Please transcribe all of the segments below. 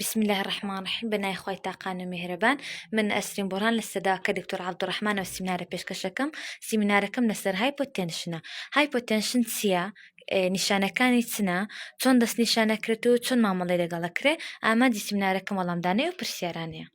بسم الله الرحمن الرحیم بە نای خۆی تاقان و میهرەبان من ئەسرین بۆران لە سەداکە دکتۆر عبدڕحمانەوە سیمینارە پێشکەشەکەم سیمینارەکەم لەسەر های پۆتەنشنە های پۆتەنشن چییە؟ نیشانەکانی چنە چۆن دەست نیشانەکرێت و چۆن مامەڵی لەگەڵەکرێ ئامادی سیمینارەکەم وەڵامدانەوە پرسیارانەیە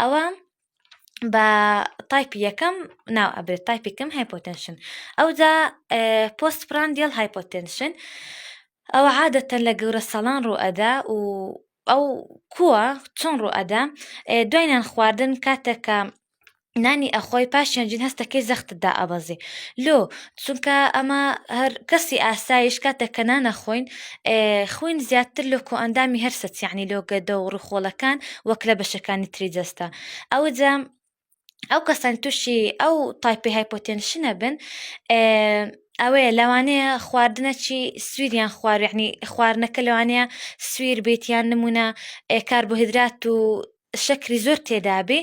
ئەوە بە تایپی یەکەم ناو ئەبێت تایپیکەم هایپۆتەنشن ئەوجا پۆست پراندیل هایپۆتەنشن ئەوە عادەتەن لە گەورە ساڵان ڕوئەدا و ئەو کووە چۆن ڕوئەدا دوایان خواردن کاتێکە نانی ئەخۆی پاشیان جین هەستەکەی زەختدا ئەبەزی لۆ چونکە ئەمە هەر کەسی ئاسایش کاتێک کە نانەخۆین خوین زیاتر لە کۆئەندامی هەر سەچیانی لۆ گەدە و ڕوخۆڵەکان وەک لە بەشەکانی تری جەستە ئەوجا ئەو کەسان تووشی ئەو تایپی هایپۆتێنشنە بن ئەوەیە لەوانەیە خواردنەچی سویریان خوارنی خواردنەکە لەوانەیە سویر بێتیان نمونە ئێکار بۆ هدرات و شەکری زۆر تێدابێ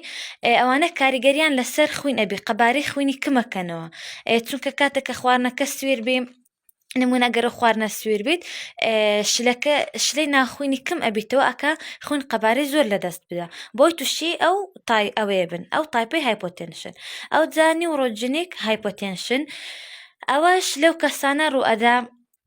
ئەوانە کاریگەریان لەسەر خوین ئەبێ قەبارەی خوینی کمەکەنەوە چونکە کاتێک کە خواردنەکە سوێر بێ نمونە گەرە خواردنە سوێر بێت شلەکە شلەی ناخوینی کم ئەبیتەوە ئەکا خوین قەبارەی زۆر لە دەست بدا بۆی تووشی ئەو تای ئەوەیە بن ئەو تایپی هایپۆتێنشن ئەو جانی و ڕۆژجنێک هایپۆتێنشن ئەوەش لەو کەسانە ڕوئەدا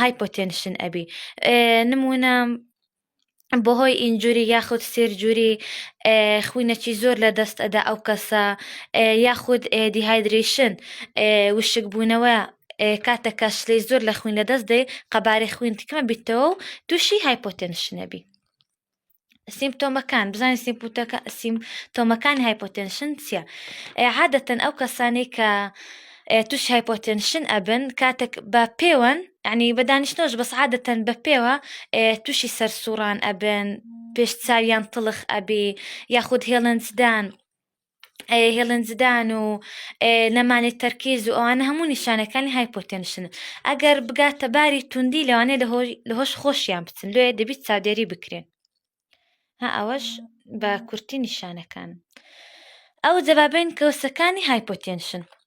هایپۆتێنشن ئەبی نمونە بەهۆی ئینجوری یاخود سێرجوری خوینەکی زۆر لە دەست ئەدا ئەو کەسە یاخود دیهایدریشن وشکبوونەوە کاتەکە شلی زۆر لە خوین لە دەست دێ قەبارەی خوین تکمە بیتەوە و تووشی هایپۆتێنشنەبی سیمپتۆمەکان بزانین سیمپوتەکە سیم تۆمەکانی هایپۆتەنشن چییە؟ عادەتەن ئەو کەسانی کە توش هایپۆتەنشن ئەبن کاتێک بە پێوەن ینی بە دانیشتۆش بەس عادەتەن بە پێوە تووشی سەر سوڕان ئەبن پێش چاویان تڵخ ئەبێ یاخود هێڵنجدان هێڵن زدان و نەمانی تەرکیز و ئەوانە هەموو نیشانەکانی هایپۆتێنشن ئەگەر بگاتە باری توندی لەوانێ لە هۆش خۆشیان بچن لێ دەبیت چاودێری بکرێن ها ئەوەش بە کورتی نیشانەکان ئەو جەبابێن کەوسەکانی هایپۆتێنشن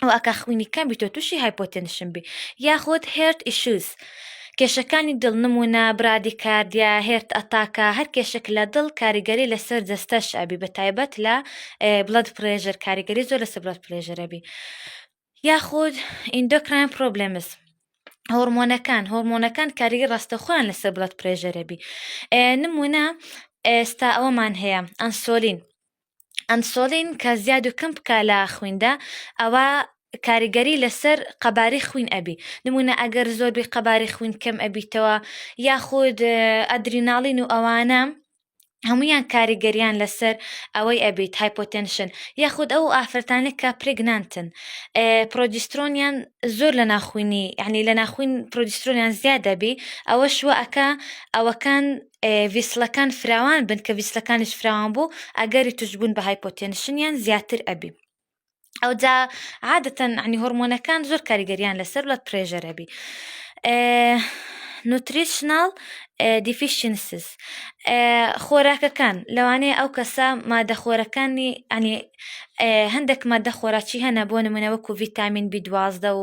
ئەو ئەکا خوینی کەم بیتۆ تووشی هایپۆتێنشن بی یاخود هێرت ئیشوز کێشەکانی دڵ نمونە برادی کاردیا هێرت ئەتاکە هەر کێشک لە دڵ کاریگەری لەسەر جەستەش ئەبی بە تایبەت لە بڵد پرێژەر کاریگەری زۆر لەسەر بڵد پرێژەرەبی یاخود ئیندۆکراین پرۆبلمس هۆرمۆنەکان هۆرمۆنەکان کاریگە ڕاستەخۆیان لەسەر بڵد پرێژەرەبی نمونە ئێستا ئەوەمان هەیە ئەنسۆلین ئەنسۆلین کە زیاد و کەم بکە لە خویندا ئەوە کاریگەری لەسەر قەباری خوین ئەبی نمونە ئەگەر زۆربی قەباری خوین کەم ئەبیتەوە یاخود ئەدریناڵین و ئەوانە هەمویان کاریگەریان لەسەر ئەوەی ئەبیت هایپۆتەنشن یاخود ئەو ئافرەتانە کە پرگنانتن پرۆجیسترۆنیان زۆر لە ناخوینی یعنی لە ناخوین پرۆجیسترۆنیان زیاد دەبی ئەوە شوەکە ئەوەکان ڤیسڵەکان فراوان بن کە ڤیسڵەکانیش فراوان بوو ئەگەری توشبوون بە هایپۆتێنشنیان زیاتر ئەبی ئەوجا عادەتەن عنی هۆرمۆنەکان زۆر کاریگەریان لەسەر بڵد پرێژەر هەبی نوتریشناڵ دیفیشنسز خۆراکەکان لەوانەیە ئەو کەسە مادەخۆرەکانی ئەنی هەندێک مادە خۆراکی هەنە بۆ نمونەوەکو ڤیتامین بی دوازدە و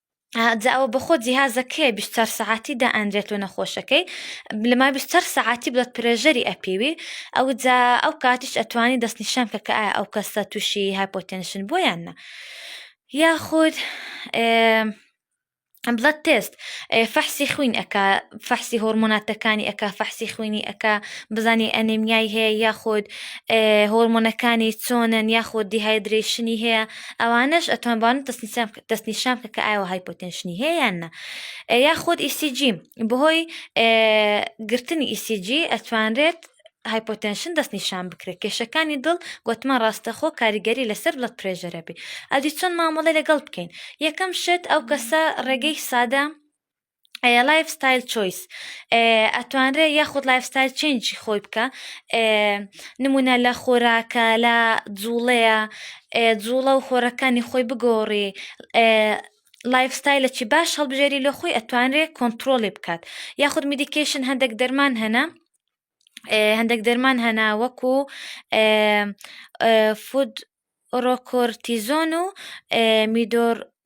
جاوە بەخۆ جیهازە کێ بیشتەر سەعاتی دا ئەندرێت و نەخۆشەکەی لەما بیشتەر سەعاتی بڵێت پرێژەری ئەپیوی ئەو جا ئەو کاتیش ئەتوانی دەست نیشان کە کە ئایا ئەو کەسە تووشی هایپۆتێنشن بۆ یان نە یاخود بڵەت تست فەحسی خوین ئەکا فەحسی هۆرمۆناتەکانی ئەکا فەحسی خوینی ئەکا بزانانی ئەنێمیای هەیە یاخود هۆرمۆنەکانی چۆنن یاخود دیهایدرێشنی هەیە ئەوانش ئەتوان بان تەسنیسان بکە دەست نیشان بکە کە ئایا هایپۆتێنشنی هەیە یان نە یا خۆت ئیسیجی بەهۆی گرتنی ئیسیجی ئەتوانرێت هایپۆتەنشن دەست نیشان بکرێت کێشەکانی دڵ گوتمان ڕاستەخۆ کاریگەری لەسەر بڵەت پرێژەرە بێ ئەدی چۆن مامەڵە لەگەڵ بکەین یەکەم شت ئەو کەسە ڕێگەی سادە لایف ستایل چۆیس ئەتوانرێ یاخود لایف ستایل چنجی خۆی بکە نمونە لە خۆراکە لە جوڵەیە جوڵە و خۆرەکانی خۆی بگۆڕی لایف ستایلە چی باش هەڵبژێری لە خۆی ئەتوانرێ کۆنتترۆلی بکات یاخود میدیکیشن هەندێک دەرمان هەنا هەندێک دەرمان هەنا وەکو فود ڕۆکۆرتیزۆن و میدۆر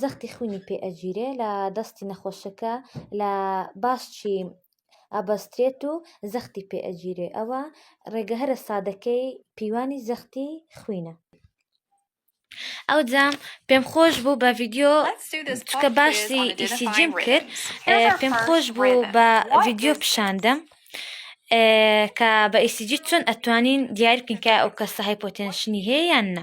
زەختی خوینی پێ ئەگیرێ لە دەستی نەخۆشەکە لە باسچی ئەبەسترێت و زەختی پێ ئەگیرێ ئەوە ڕێگە هەرە سادەکەی پیوانی زەختی خوینە ئەو جام پێم خۆش بوو بە ڤیددیو چکە باشی ئیسیجیم کرد پێم خۆش بوو بە ڤیددیو پیشاندەم کە بە ئیسیجی چۆن ئەتوانین دیارکن کە ئەو کەسە هایپۆتێنشنی هەیە یان نە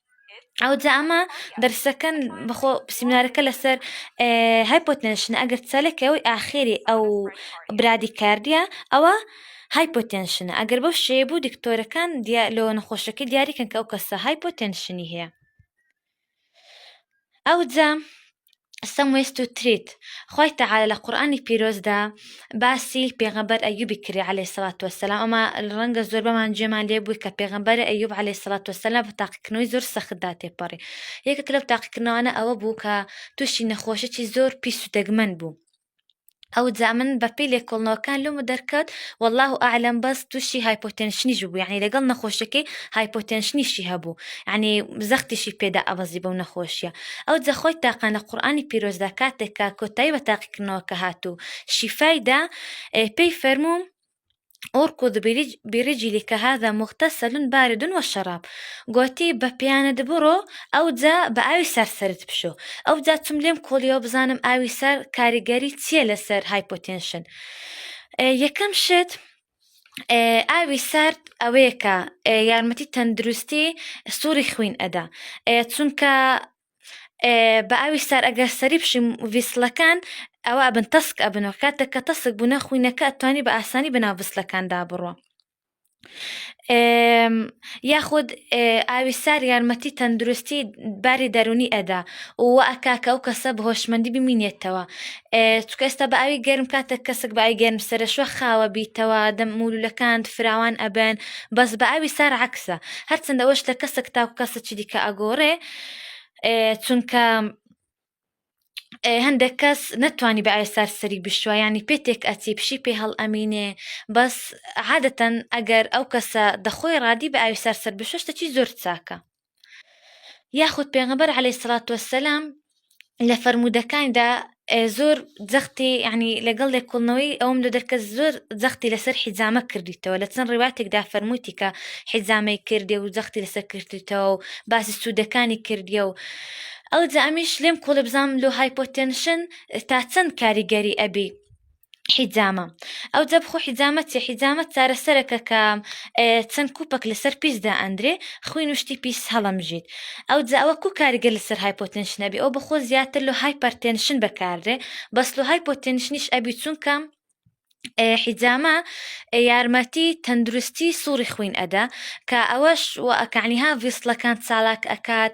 ئەو جا ئەمە دەرسەکەن بەخۆ سیمنارەکە لەسەر های پۆتنشن ئەگەر چەلەکە ئەوی ئاخێری ئەو برادی کاردە ئەوە های پۆتنشنە ئەگەر بەو شێ بوو دکتۆرەکان لۆ نەخۆشەکە دیاریکەن کە ئەو کەسە های پۆتنشنی هەیە ئەوجا سم وێست و تریت خوای تەعالی لە قورئانی پیرۆزدا باسی پێغەمبەر ئەیوبی کردی عەلەیهی سڵات وەسەلام ئەمە ڕەنگە زۆربەمان جێمان لێ بووی کە پێغەمبەر ئەیوب عەلەیهی سڵات وەسەلام بە تاقیکردنەوەی زۆر سەختدا تێپەڕی یەکێک لەو تاقیکردنەوانە ئەوە بوو کە تووشی نەخۆشیی زۆر پیس و دەگمەن بوو ئەو جا من بە پێی لێکۆڵنەوەکان لۆمە دەرکەوت والله ئالم بەس تووشی هایپۆتەنشنیش بوو یعنی لەگەڵ نەخۆشەکەی هایپۆتەنشنیشی هەبوو یعنی زەختیشی پێدا ئەبەزی بەو نەخۆشیە ئەو جەخۆی تاقان لە قورآانی پیرۆزدا کاتێکا کۆتایی بە تاقیکردنەوەکە هاتوو شیفایدا پێی فەرموو اركض برجلك هذا مغتسل بارد وشراب گوتی بە پیانت بڕۆ ئەو جا بە ئاوی سەر سرت بشۆ ئەو جا چم لێم کۆڵیەوە بزانم ئاوی سەر کاریگەری چییە لەسەر هایپۆتێنشن یەکەم شت ئاوی سارد ئەوەیەکە یارمەتی تەندروستی سووری خوین ئەدا چونکە بە ئاوی سار ئەگەر سەری بشیم ویسلەکان ئەوە ئەبن تەسک ئەبنەوە کاتێک کە تەسک بوونە خوینەکە ئەتوانی بە ئاسانی بەناو بسلەکاندا بڕۆ یاخود ئاوی سار یارمەتی تەندروستی باری دەرونی ئەدا و ئەکاکە ئەو کەسە بە هۆشمەندی بمینێتەوە چکە ئێستا بە ئاوی گەرم کاتێک کەسک بای گەرم سەرشوە خاوە بیتەوە دەم مولولەکان فراوان ئەبن بەس بە ئاوی سار عکسە هەرچندەوەش لە کەسک تاکو کەسە چی دیکە ئەگۆڕێ چونکە هەندێک کەس نەتوانی بە ئایسار سەری بشوە ینی پێتێک ئەچی پشی پێ هەڵ ئەمینێ بەس عادەتەن ئەگەر ئەو کەسە دەخۆی ڕادی بە ئاوی سەر سەر بشتە چی زۆر چاکە یاخود پێغەبەر عليه سلاات وسلام لە فەرموودەکانیدا زۆر زەختی ینی لەگەڵ لێکۆڵنەوەی ئەوم لە دەرکە زۆر زەختی لەسەر حیزامە کردیتەوە لە چەند ڕیواتێکدا فەرمووتی کە حیزامەی کردێ و زەختی لەسەر کردیتەوە و باسی سوودەکانی کردیە و ئەو جامیش لێم کۆڵێ بزانام لۆ هایپۆتەنشن تا چەند کاریگەری ئەبی حیجامە ئەو جە بخۆ حیجامە چێ حیجامە چارەسەرەکە کە چەند کوپەک لەسەر پیسدا ئەندرێ خوین و شتی پیس هەڵەمژیت ئەو جە ئەوە کو کاریگە لەسەر هایپۆتنشنەبی ئەو بخۆ زیاتر لە هایپەرتێنشن بەکاردێ بەس لە هایپۆتنشنیش ئەبی چونکە حیجامە یارمەتی تەندروستی سوڕی خوین ئەدا کە ئەوەش وەکانیها ڤیستلەکان چالاک ئەکات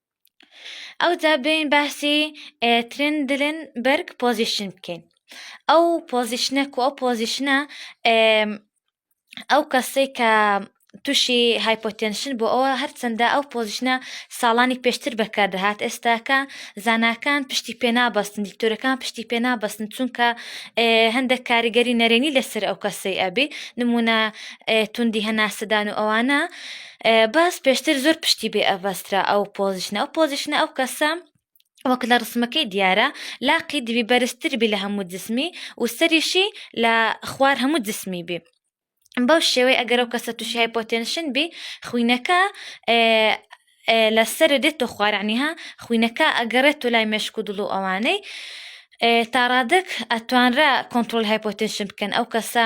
ئەوجا بێین باسی ترن دلن بەرگ پۆزیشن بکەین ئەو پۆزیشنە کو ئەو پۆزیشنە ئەو کەسەی کە تووشی هایپۆتێنشن بۆ ئەوە هەرچەندە ئەو پۆزیشنە ساڵانی پێشتر بەکاردەهات ئێستاکە زانکان پشتی پێنابەستن دیکتۆرەکان پشتی پێنابەستن چونکە هەندێک کاریگەری نەرێنی لەسەر ئەو کەسەی ئەبێ نمونە توندی هەناسەدان و ئەوانە باس پێشتر زۆر پشتی بێ ئەڤەسترا ئەو پۆزیشنە ئەو پۆزیشنە ئەو کەسە وەک لە ڕسمەکەی دیارە لاقی دوی بەرزتر بی لە هەموو جسمی و سەریشی لە خوار هەموو جسمی بی بەو شێوەی ئەگەر ئەو کەسە تووشی هایپۆتێنشن بی خوینەکە لە سەر دێت تۆ خوارانیها خوینەکە ئەگەڕێت تۆ لای مێشک و دڵ و ئەوانەی تاڕادک ئەتوانرا کۆنتترۆل هایپۆتێنشن بکەن ئەو کەسە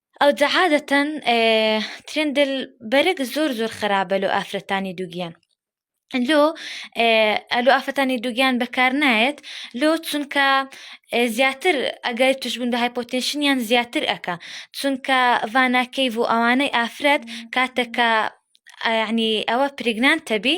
ئەوجە عادەتەن ترندل بەرگ زۆر زۆر خراپە لۆ ئافرەتانی دووگیان لۆ ئەلو ئافرەتانی دووگیان بەکار نایەت لۆ چونکە زیاتر ئەگەر توشبوون بە هایپۆتنشنیان زیاتر ئەکا چونکە ڤاناکەیڤ و ئەوانەی ئافرەت کاتەکە ینی ئەوە پرگنان تەبی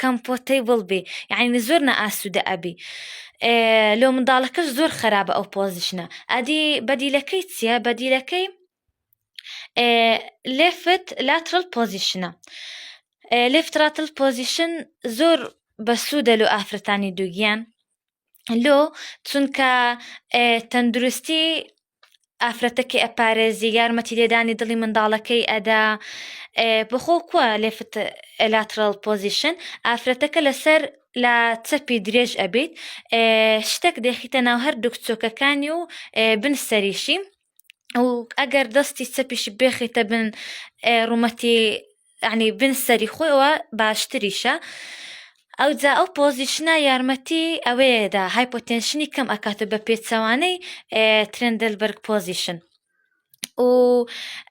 کەمپۆتەیبڵ بی یەعنی زۆر نائاسودە ئەبی لۆ منداڵەکەش زۆر خەرابە ئەو پۆزیشنە ئەدی بەدیلەکەی چیە بەدیلەکەی لفت لاترل پۆزیشنە لفتراتل پۆزیشن زۆر بەسوودە لۆ ئافرەتانی دووگیان لۆ چونکە تەندروستی ئافرەتەکەی ئەپارێزی یارمەتی لێدانی دڵی منداڵەکەی ئەدا بخۆ کووە لێفت ئەلاترال پۆزیشن ئافرەتەکە لەسەر لە چەپی درێژ ئەبیت شتێک دێخیتە ناو هەر دووک چۆکەکانی و بنسەریشی ئەو ئەگەر دەستی چەپیش بێخیتە بن ڕوومەتی عنی بن سەری خۆیەوە باشتریشە ئەو جا ئەو پۆزیشنە یارمەتی ئەوەیەدا های پۆتەنشنی کەم ئەکاتە بە پێچەوانەی ترندل بەرگ پۆزیشن و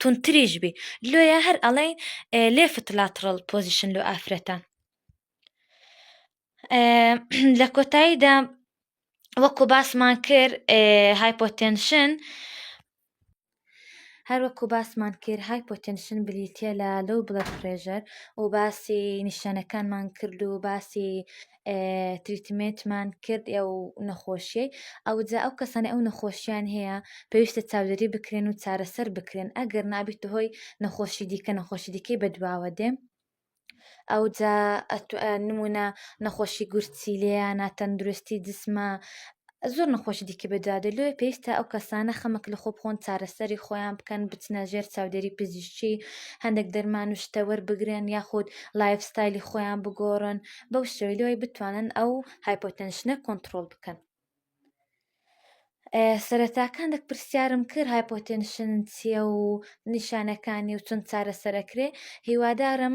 تونتریش بی لۆیە هەر ئەڵێن لێفت لاتڕڵ پۆزیشن لۆ ئافرەتان لە کۆتاییدا وەکو باسمان کرد هایپۆتەنشن هەروەکو باسمان کرد های پۆتەنشن بریتە لە لەو بڵەک فرێژەر و باسی نیشانەکانمان کرد و باسی تریتمێتمان کرد ئەو نەخۆشیەی ئەوجا ئەو کەسانی ئەو نەخۆشیان هەیە پێویستە چاودێری بکرێن و چارەسەر بکرێن ئەگەر نابیت هۆی نەخۆشی دیکە نەخۆشی دیکەی بەدواوە دێ ئەوجا نمونە نەخۆشی گورچیلەیە ناتەندروستی جسمە زۆر نەخۆشی دیکە بە دوا دێت لۆیە پێویستە ئەو کەسانە خەمەک لە خۆ بخۆن چارەسەری خۆیان بکەن بچنە ژێر چاودێری پزیشکی هەندێک دەرمان و شتە وەربگرن یاخود لایف ستایلی خۆیان بگۆڕن بەو شێوەی لۆی بتوانن ئەو هایپۆتەنشنە کۆنترۆڵ بکەن سەرەتاکان دەک پرسیارم کرد هایپۆتەنشن چییە و نیشانەکانی و چەند چارەسەرەکرێ هیوادارم